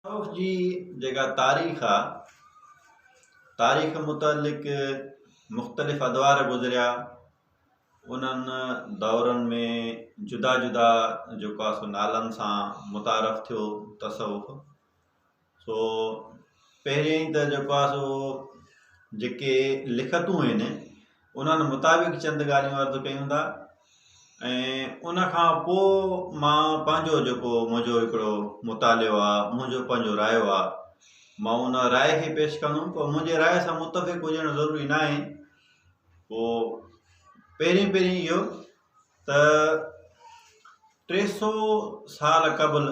ڪوفه جي جيڪا تاريخ آ تاريخ متعلق مختلف ادوار گذريا انهن دورن ۾ جدا جدا جيڪو آ سو نالن سان متعارف ٿيو تصوف سو پهرين ته جيڪو آ سو جيڪي لکتون آهن انهن مطابق چند ڳالهيون عرض ڪيون ٿا ۽ ان کان پوء مان پنهنجو جيڪو منهنجو هڪڙو مطالعو آ منهنجو پنهنجو رايو آ مان ان راء کي پيش ڪندم پر منهنجي راء سان متفق هجڻ ضروري ناهي پوء پهرين پهرين اهو ته ٽي سو سال قبل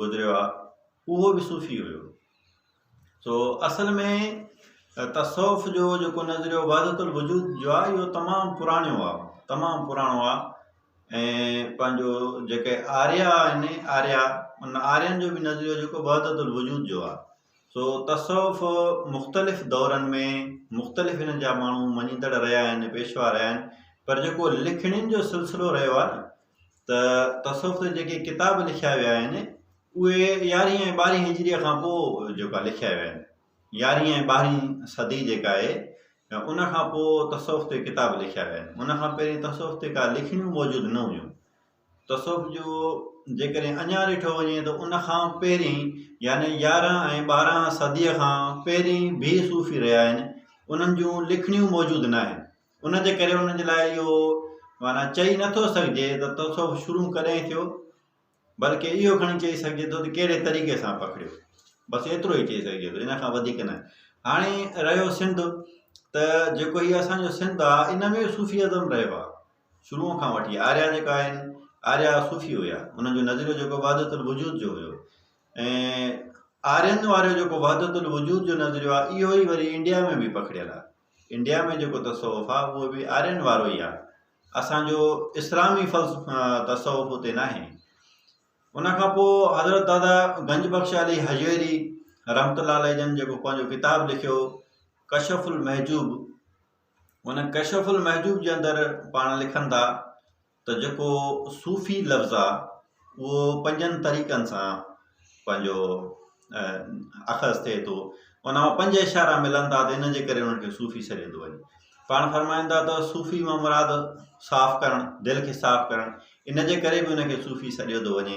گذريو آ اهو به صوفي هيو سو اصل ۾ تصوف جو جيڪو نظريو وحدت الوجود جو آ اهو تمام پراڻيو آ تمام پراڻو آ ۽ پنهنجو جيڪي آريا آهن آريا ان آرين جو به نظريو جيڪو وحدت الوجود جو آ سو تصوف مختلف دورن ۾ مختلف هنن جا ماڻهو مڃيندڙ رهيا آهن پيشوا رهيا آهن پر جيڪو لکڻين جو سلسلو رهيو آ نه ته تصوف تي جيڪي ڪتاب لکيا ويا آهن اهي يارهين ۽ ٻارهين هجريء کان پوء جيڪا لکيا ويا آهن يارهين ۽ ٻارهين صدي جيڪا آهي ان کان پوء تصوف تي ڪتاب لکيا ويا آهن ان کان پهرين تصوف تي ڪا لکڻيون موجود نه هيون تصوف جو جيڪڏهن اڃا ڏٺو وڃي ته ان کان پهرين يعني يارهن ۽ ٻارهن صديء کان پهرين بي صوفي رهيا آهن انهن جون لکڻيون موجود ناهن ان جي ڪري ان جي لاء اهو معنيٰ چئي نه ٿو سگهجي ته تصوف شروع ڪڏهن ٿيو، بلڪ اهو کڻي چئي سگهجي ٿو ته ڪهڙي طريقي سان پکڙيو. بس ايترو ئي چئي سگهجي ٿو، ان کان وڌيڪ نه. هاڻي رهيو سنڌ ته جيڪو هي اسان جو سنڌ آ، ان ۾ صوفي ازم رهيو آ، شروع کان وٺي. آريا جيڪا آهن، آريا صوفي هيا. انهن جو نظريو جيڪو وحدت الوجود جو هيو ۽ آرين وارو جيڪو وحدت الوجود جو نظريو آ، اهو ئي وري انڊيا ۾ به پکڙيل آ. انڊيا ۾ جيڪو تصوف آ اهو به آرين وارو ئي آ اسان جو اسلامي تصوف اتي ناهي ان کان پوء حضرت دادا گنج بخش علي هجويري رحمت الله عليه جن جيڪو پنهنجو ڪتاب لکيو ڪشف المحجوب ان ڪشف المحجوب جي اندر پاڻ لکن ٿا ته جيڪو صوفي لفظ آ اهو پنجن طريقن سان پنهنجو اخذ ٿئي ٿو ان مان پنج اشارا ملن ٿا ته ان جي ڪري انهن کي صوفي سڏيو ٿو وڃي پاڻ فرمائن ٿا ته صوفي مان مراد صاف ڪرڻ دل کي صاف ڪرڻ ان جي ڪري به ان کي صوفي سڏيو ٿو وڃي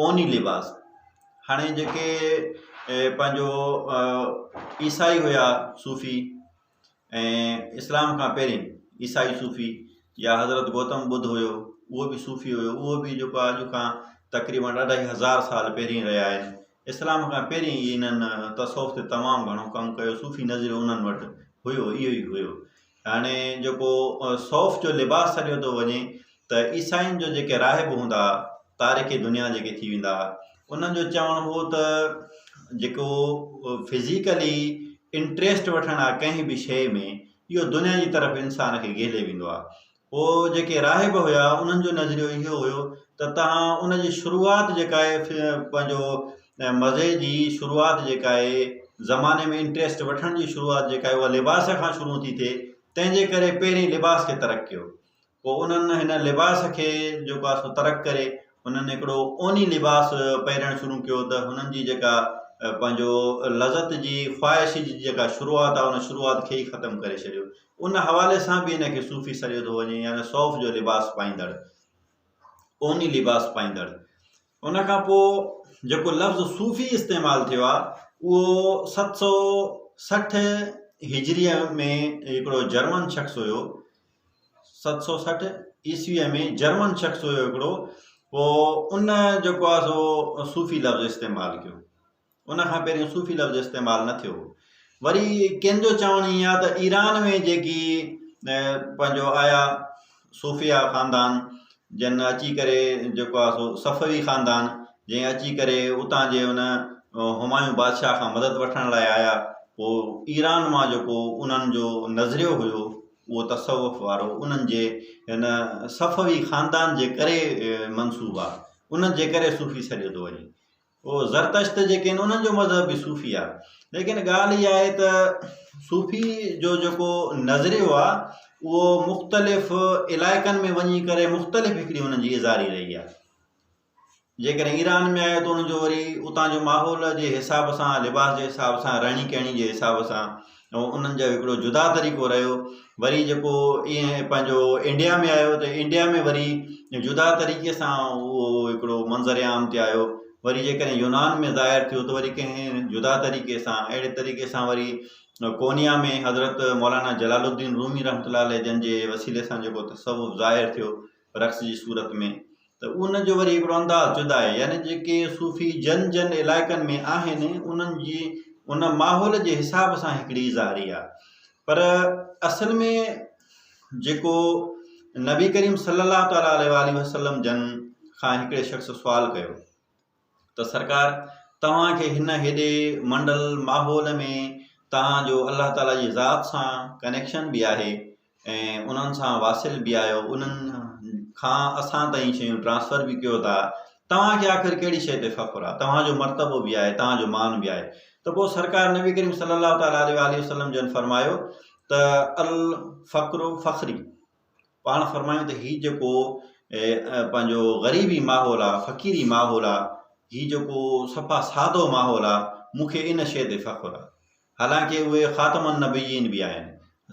اوني لباس هاڻي جيڪي پنهنجو عيسائي هيا صوفي ۽ اسلام کان پهرين عيسائي صوفي يا حضرت گوتم ٻڌ هيو اهو به صوفي هيو اهو به جيڪو آهي اڄ کان تقريبن اڍائي هزار سال پهرين رهيا آهن اسلام کان پهرين ئي انهن تصوف تي تمام گهڻو ڪم ڪيو صوفي نظريو انهن وٽ هيو اهو ئي هيو هاڻي جيڪو صوف جو لباس سڏيو ٿو وڃي ته عيسائين جو جيڪي راهب هوندا تارڪ دنيا جيڪي ٿي ويندا انهن جو چوڻ هو ته جيڪو فزيڪلي انٽريسٽ وٺڻ آ ڪنهن به شيء ۾ اهو دنيا جي طرف انسان کي گهيلي ويندو آ پوء جيڪي راهب هيا انهن جو نظريو اهو هيو ته تهان ان جي شروعات جيڪا آهي پنهنجو ۽ مزي جي شروعات جيڪا آهي زماني ۾ انٽريسٽ وٺڻ جي شروعات جيڪا آهي اها لباس کان شروع ٿي ٿئي تنهن جي ڪري پهرين لباس کي ترڪ ڪيو پوء انهن هن لباس کي جيڪو آهي سو ترڪ ڪري هنن هڪڙو اوني لباس پهرڻ شروع ڪيو ته هنن جي جيڪا پنهنجو لذت جي خواهش جي جيڪا شروعات آهي ان شروعات کي ئي ختم ڪري ڇڏيو ان حوالي سان به هن کي صوفي سڏيو ٿو وڃي يعني صوف جو لباس پائيندڙ اوني لباس پائيندڙ ان کان پوء جيڪو لفظ صوفي استعمال ٿيو آهي اهو ست سؤ سٺ هجريء ۾ هڪڙو جرمن شخص هيو ست سؤ سٺ عيسويء ۾ جرمن شخص هيو هڪڙو پوء ان جيڪو آهي سو صوفي لفظ استعمال ڪيو ان کان پهريون صوفي لفظ استعمال نه ٿيو هو. وري ڪن جو چوڻ ائين آهي ته ايران ۾ جيڪي پنهنجو آيا صوفيا خاندان جن اچي ڪري جيڪو آهي سو صفوي خاندان جنهن اچي ڪري اتان جي ان همايون بادشاهه کان مدد وٺڻ لاء آيا پوء ايران مان جيڪو انهن جو نظريو هيو اهو تصوف وارو انهن جي هن صفوي خاندان جي ڪري منسوب آهي انهن جي ڪري صوفي سڏيو ٿو وڃي. هو زرتشت جيڪي آهن انهن جو مذهب به صوفي آهي ليڪن ڳالهه اها آهي ته صوفي جو جيڪو نظريو آهي اهو مختلف علائقن ۾ وڃي ڪري مختلف هڪڙي انهن جي اظهاري رهي آهي جيڪڏهن ايران ۾ آيو ته ان جو وري اتان جو ماحول جي حساب سان لباس جي حساب سان رهڻي ڪهڻي جي حساب سان ۽ انهن جو هڪڙو جدا طريقو رهيو وري جيڪو ايئن پنهنجو انڊيا ۾ آيو ته انڊيا ۾ وري جدا طريقي سان اهو هڪڙو منظر عام تي آيو وري جيڪڏهن يونان ۾ ظاهر ٿيو ته وري ڪنهن جدا طريقي سان اهڙي طريقي سان وري ڪونيا ۾ حضرت مولانا جلال الدين رومي رحمة الله عليه جن جي وسيلي سان جيڪو تصوف ظاهر ٿيو رقص جي صورت ۾ ته ان جو وري هڪڙو انداز جدا آهي يعني جيڪي صوفي جن جن علائقن ۾ آهن انهن جي ان ماحول جي حساب سان هڪڙي ظاهري آهي پر اصل ۾ جيڪو نبي ڪريم صلي الله تعالي عليه وسلم جن کان هڪڙي شخص سوال ڪيو ته سرڪار توهان کي هن هيڏي منڊل ماحول ۾ توهان جو الله تعاليٰ جي ذات سان ڪنيڪشن به آهي ۽ انهن سان واصل به آهيو انهن کان اسان تائين شيون ٽرانسفر به ڪيو ٿا توهان کي آخر ڪهڙي شيء تي فخر آهي توهان جو مرتبو به آهي توهان جو مان به آهي ته پوء سرڪار نبي ڪريم صلي الله تعاليٰ عليه وآله وسلم جن فرمايو ته الفقر فخري پاڻ فرمايون ته هي جيڪو پنهنجو غريبي ماحول آ فقيري ماحول آ هي جيڪو صفا سادو ماحول آ مون کي ان شيء تي فخر آ حالانڪه اهي خاتم النبيين به آهن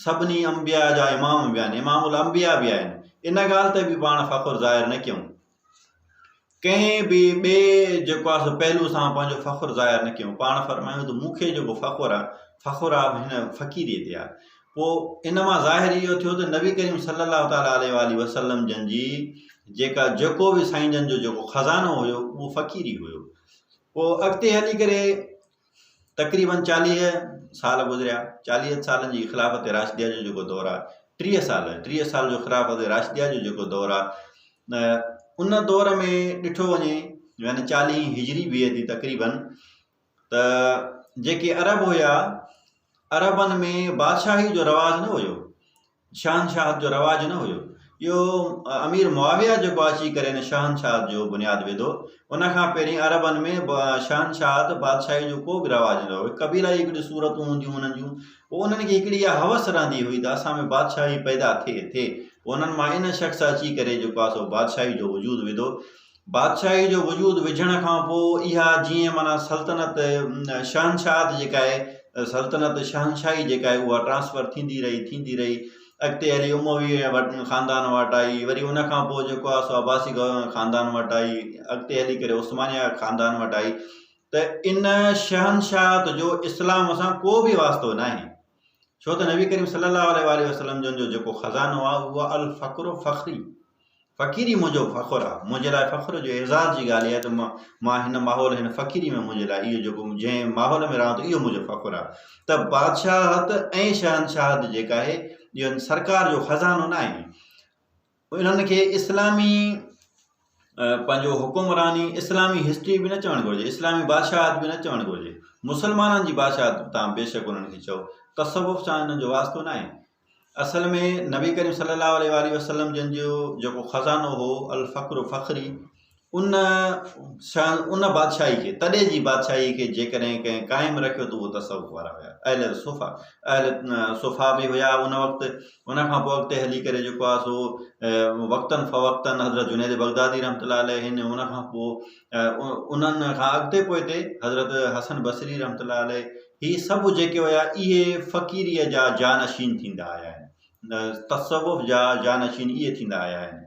سڀني انبياء جا امام به آهن امام الانبياء به آهن ان ڳالهه تي به پاڻ فخر ظاهر نه ڪيون ڪنهن به ٻئي جيڪو آهي سو پهلو سان پنهنجو فخر ظاهر نه ڪيو پاڻ فرمايو ته مون کي جيڪو فخر آهي فخر آهي به هن فقيريء تي آهي پوء ان مان ظاهر اهو ٿيو ته نبي ڪريم صلي الله تعالٰي عليه وآله وسلم جن جي جيڪا جيڪو به سائين جن جو جيڪو خزانو هيو اهو فقيري هيو پوء اڳتي هلي ڪري تقريبن چاليهه سال گذريا، چاليهن سالن جي خلافت راشديه جو جيڪو دور آهي، ٽيهه سال، ٽيهه سال جو خلافت راشديه جو جيڪو دور آهي، ان دور ۾ ڏٺو وڃي يعني چاليهه هجري بي اي دي تقريبن ته جيڪي عرب هيا عربن ۾ بادشاهي جو رواج نه هيو، شهنشاهت جو رواج نه هيو. اهو امير معاويه جيڪو اچي ڪري هن شهنشاهت جو بنياد وڌو. ان کان پهرين عربن ۾ شهنشاهت، بادشاهي، جو ڪو به رواج نه هيو. قبيلا جي ڪجهه صورتون هونديون هئيون انهن جون. پوء انهن کي هڪڙي اها هوس رهندي هئي ته اسان ۾ بادشاهي پيدا ٿئي ٿي. پوء انهن مان ان شخص اچي ڪري جيڪو آهي سو بادشاهي جو وجود وڌو. بادشاهي جو وجود وجهڻ کان پوء اها جيئن معنيٰ سلطنت شهنشاهت جيڪا آهي سلطنت شهنشاهي جيڪا آهي اها ٽرانسفر ٿيندي رهي ٿيندي رهي اڳتي هلي اموي وٽ خاندان وٽ آئي وري ان کان پوء جيڪو آهي سو عباسي خاندان وٽ آئي اڳتي هلي ڪري عثمانيا خاندان وٽ آئي ته ان شهنشاهت جو اسلام سان ڪو بي واسطو ناهي ڇو ته نبي ڪريم صلي الله عليه واٰله وسلم جن جو جيڪو خزانو آهي اهو آهي الفقر فخري فقيري منهنجو فخر آهي منهنجي لاء فخر جو اعزاز جي ڳالهه اها ته مان هن ماحول هن فقيري ۾ منهنجي لاء اهو جيڪو جنهن ماحول ۾ رهان ٿو اهو منهنجو فخر آهي ته بادشاهت ۽ شهنشاهت جيڪا آهي اهو سرڪار جو خزانو نه آهي انهن کي اسلامي پنهنجو حڪمراني اسلامي هسٽري به نه چوڻ گهرجي اسلامي بادشاهت به نه چوڻ گهرجي مسلمانن جي بادشاهت تان بيشڪ انهن کي چئو تصوف سان انهن جو واسطو ناهي اصل ۾ نبي ڪريم صلي الله عليه وسلم جن جو جيڪو خزانو هو الفقر فخري ان شان ان بادشاهي کي، تڏي جي بادشاهي کي، جيڪڏهن ڪنهن قائم رکيو ته اهو تصوف وارا هيا. اهل صفا، اهل صفا به هيا ان وقت. ان کان پوء اڳتي هلي ڪري جيڪو آهي سو وقتن فوقتن حضرت جنيد بغدادي رحمة الله عليه هن، ان کان پوء انهن کان اڳتي پوئتي حضرت حسن بصري رحمة الله عليه هي سڀ جيڪي هيا اهي فقيريء جا جانشين ٿيندا آيا آهن. تصوف جا جانشين اهي ٿيندا آيا آهن.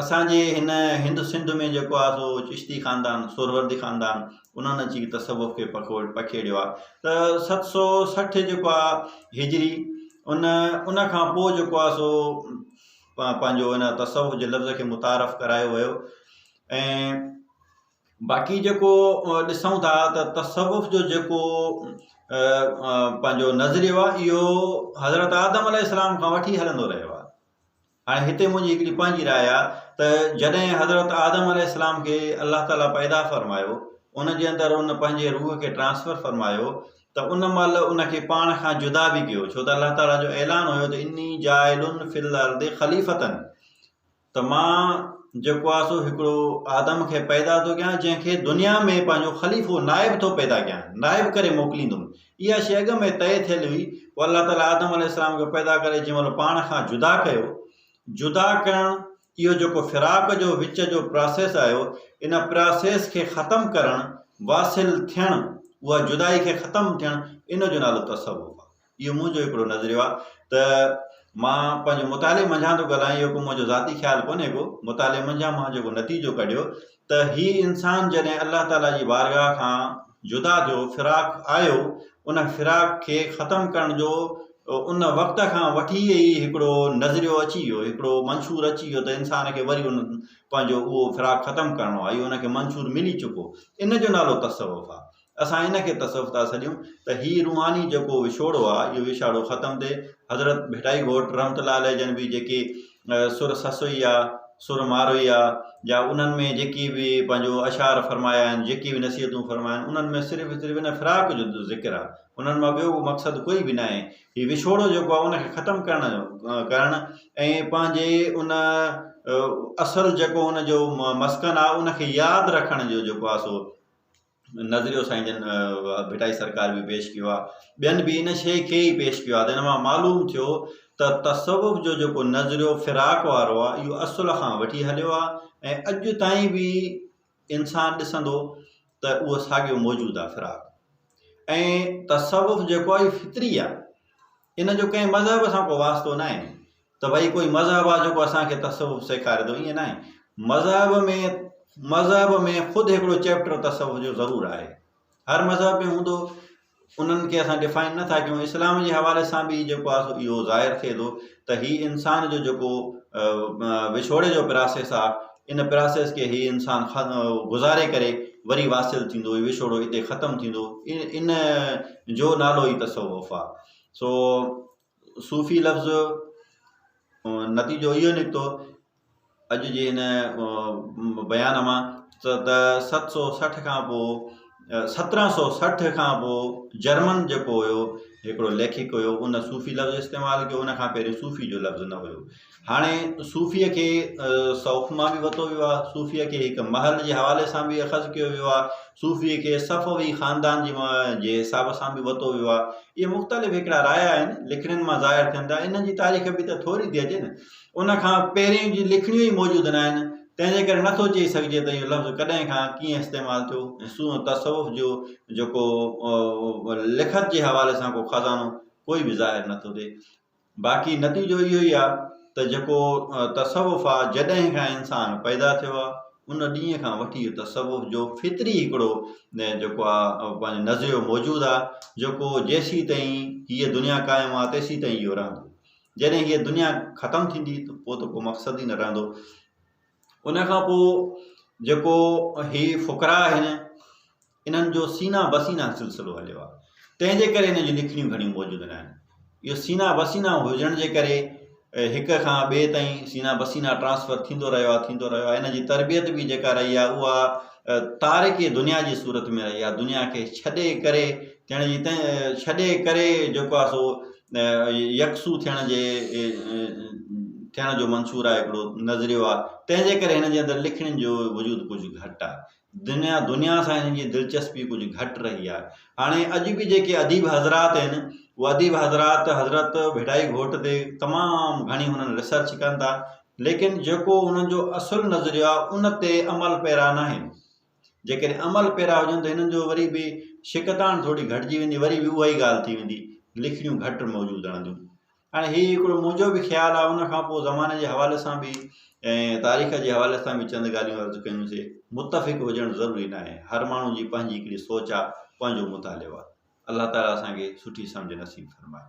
اسان جي هن هند سنڌ ۾ جيڪو آهي سو چشتي خاندان، سهروردي خاندان، انهن اچي تصوف کي پکيڙيو آهي ته ست سؤ سٺ جيڪو آهي هجري ان ان کان پوء جيڪو آهي سو پنهنجو ان تصوف جي لفظ کي متعارف ڪرايو ويو ۽ باقي جيڪو ڏسون ٿا ته تصوف جو جيڪو پنهنجو نظريو آهي اهو حضرت آدم عليه السلام کان وٺي هلندو رهيو آهي هاڻي هتي منهنجي هڪڙي پنهنجي راء آ ته جڏهن حضرت آدم عليه السلام کي الله تعالي پيدا فرمايو ان جي اندر ان پنهنجي روح کي ٽرانسفر فرمايو ته ان مهل ان کي پاڻ کان جدا به ڪيو ڇو ته الله تعالي جو اعلان هيو ته اني جاعل في الارض خليفة ته مان جيڪو آ سو هڪڙو آدم کي پيدا ٿو ڪيان جنهن کي دنيا ۾ پنهنجو خليفو نائب ٿو پيدا ڪيان نائب ڪري موڪليندم اها شيء اڳ ۾ طئي ٿيل هئي، پوء الله تعاليٰ آدم عليه السلام کي پيدا ڪري جنهن مهل پاڻ کان جدا ڪيو. جدا ڪرڻ، اهو جيڪو فراق جو وچ جو پراسيس آيو، ان پراسيس کي ختم ڪرڻ، واصل ٿيڻ، اها جدائي کي ختم ٿيڻ، ان جو نالو تصوف آهي. اهو منهنجو هڪڙو نظريو آهي ته مان پنهنجي مطالعي منجهان ٿو ڳالهايان، اهو ڪو منهنجو ذاتي خيال ڪونهي ڪو، مطالعي منجهان مان جيڪو نتيجو ڪڍيو ته هي انسان جڏهن الله تعالي جي بارگاهه کان جدا ٿيو، فراق آيو، ان فراق کي ختم ڪرڻ جو ان وقت کان وٺي ئي هڪڙو نظريو اچي ويو، هڪڙو منشور اچي ويو ته انسان کي وري ان پنهنجو اهو فراق ختم ڪرڻو آهي، اهو ان کي منشور ملي چڪو، ان جو نالو تصوف آهي. اسان ان کي تصوف ٿا سڏيون ته هي روحاني جيڪو وڇوڙو آ اهو وڇاڙو ختم ٿئي حضرت ڀٽائي گهوٽ رحمت الله عليه جن به جيڪي سر سسوئي آ سر ماروئي آ يا انهن ۾ جيڪي به پنهنجو اشعار فرمايا آهن جيڪي به نصيحتون فرمايا آهن انهن ۾ صرف صرف ان فراق جو ذڪر آ انهن مان ٻيو مقصد ڪوئي به ناهي هي وڇوڙو جيڪو آ ان کي ختم ڪرڻ جو ڪرڻ ۽ پنهنجي ان اصل جيڪو ان جو مسڪن آ ان کي ياد رکڻ جو جيڪو آ سو نظريو سائين جن ڀٽائي سرڪار به پيش ڪيو آ ٻين به ان شئي کي ئي پيش ڪيو آ ته ان مان معلوم ٿيو ته تصوف جو جيڪو نظريو فراق وارو آ اهو اصل کان وٺي هليو آ ۽ اڄ تائين به انسان ڏسندو ته اهو ساڳيو موجود آ فراق ۽ تصوف جيڪو آ اهو فطري آ ان جو ڪنهن مذهب سان ڪو واسطو ناهي ته ڀئي ڪوئي مذهب آ جيڪو اسان کي تصوف سيکاري ٿو ائين ناهي مذهب ۾ مذهب ۾ خود هڪڙو چيپٽر تصوف جو ضرور آهي هر مذهب ۾ هوندو انهن کي اسان ڊفائن نه ٿا ڪيون اسلام جي حوالي سان به جيڪو آ سو اهو ظاهر ٿئي ٿو ته هي انسان جو جيڪو وڇوڙي جو پراسيس آ ان پراسيس کي هي انسان گذاري ڪري وري واصل ٿيندو هي وڇوڙو اتي ختم ٿيندو ان جو نالو ئي تصوف آ سو صوفي لفظ نتيجو اهو نڪتو اڄ جي هن بيان مان ته ست سو سٺ کان پوء سترهن سو سٺ کان پوء جرمن جيڪو هيو هڪڙو ليکڪ هيو ان صوفي لفظ استعمال ڪيو ان کان پهرين صوفي جو لفظ نه هيو هاڻي صوفيء کي صوف مان به وتو ويو آهي، صوفيء کي هڪ محل جي حوالي سان به اخذ ڪيو ويو آهي، صوفيء کي صفوي خاندان جي جي حساب سان به وتو ويو آهي. اهي مختلف هڪڙا رايا آهن، لکڻين مان ظاهر ٿين ٿا. انهن جي تاريخ به ته ٿوري ٿي اچي نه. ان کان پهرين جون لکڻيون ئي موجود ناهن، تنهن جي ڪري نٿو چئي سگهجي ته اهو لفظ ڪڏهن کان ڪيئن استعمال ٿيو ۽ سون تصوف جو جيڪو لکت جي حوالي سان ڪو خزانو ڪوئي به ظاهر نٿو ٿئي. باقي نتيجو اهو ئي آ ته جيڪو تصوف آ جڏهن کان انسان پيدا ٿيو آ ان ڏينهن کان وٺي تصوف جو فطري هڪڙو جيڪو آ پنهنجو نظريو موجود آ جيڪو جيسين تائين هيء دنيا قائم آ تيسين تائين اهو رهندو جڏهن هيء دنيا ختم ٿيندي ته پوء ته ڪو مقصد ئي نه رهندو ان کان پوء جيڪو هي فقراء آهن انهن جو سينا به سينا سلسلو هليو آهي، تنهن جي ڪري انهن جون لکڻيون گهڻيون موجود نه آهن. اهو سينا به سينا هجڻ جي ڪري هڪ کان ٻئي تائين سينا به سينا ٽرانسفر ٿيندو رهيو آهي، ٿيندو رهيو آهي. انهن جي تربيت به جيڪا رهي آهي اها تارڪ دنيا جي صورت ۾ رهي آهي، دنيا کي ڇڏي ڪري ٿيڻ جي تنهن ڇڏي ڪري جيڪو آهي سو يڪسو ٿيڻ جي ٿيڻ جو منشور آهي، هڪڙو نظريو آهي، تنهن جي ڪري هن جي اندر لکڻين جو وجود ڪجهه گهٽ آهي. دنيا دنيا سان هنن جي دلچسپي ڪجهه گهٽ رهي آهي هاڻي اڄ به جيڪي اديب حضرات آهن اهي اديب حضرات حضرت ڀٽائي گهوٽ تي تمام گهڻي هنن ريسرچ ڪن ٿا ليڪن جيڪو هنن جو اصل نظريو آهي ان تي عمل پيرا ناهن جيڪڏهن عمل پيرا هجن ته هنن جو وري به شڪتاڻ ٿوري گهٽجي ويندي وري به اها ئي ڳالهه ٿي ويندي لکڻيون گهٽ موجود رهنديون هاڻي هي هڪڙو منهنجو به خيال آهي ان کان پوء زماني جي حوالي سان به ۽ تاريخ جي حوالي سان به چند ڳالهيون عرض ڪيون سي متفق هجڻ ضروري ناهي هر ماڻهو جي پنهنجي هڪڙي سوچ آهي پنهنجو مطالعو آهي الله تعالي اسان کي سٺي سمجهه نصيب فرمائي.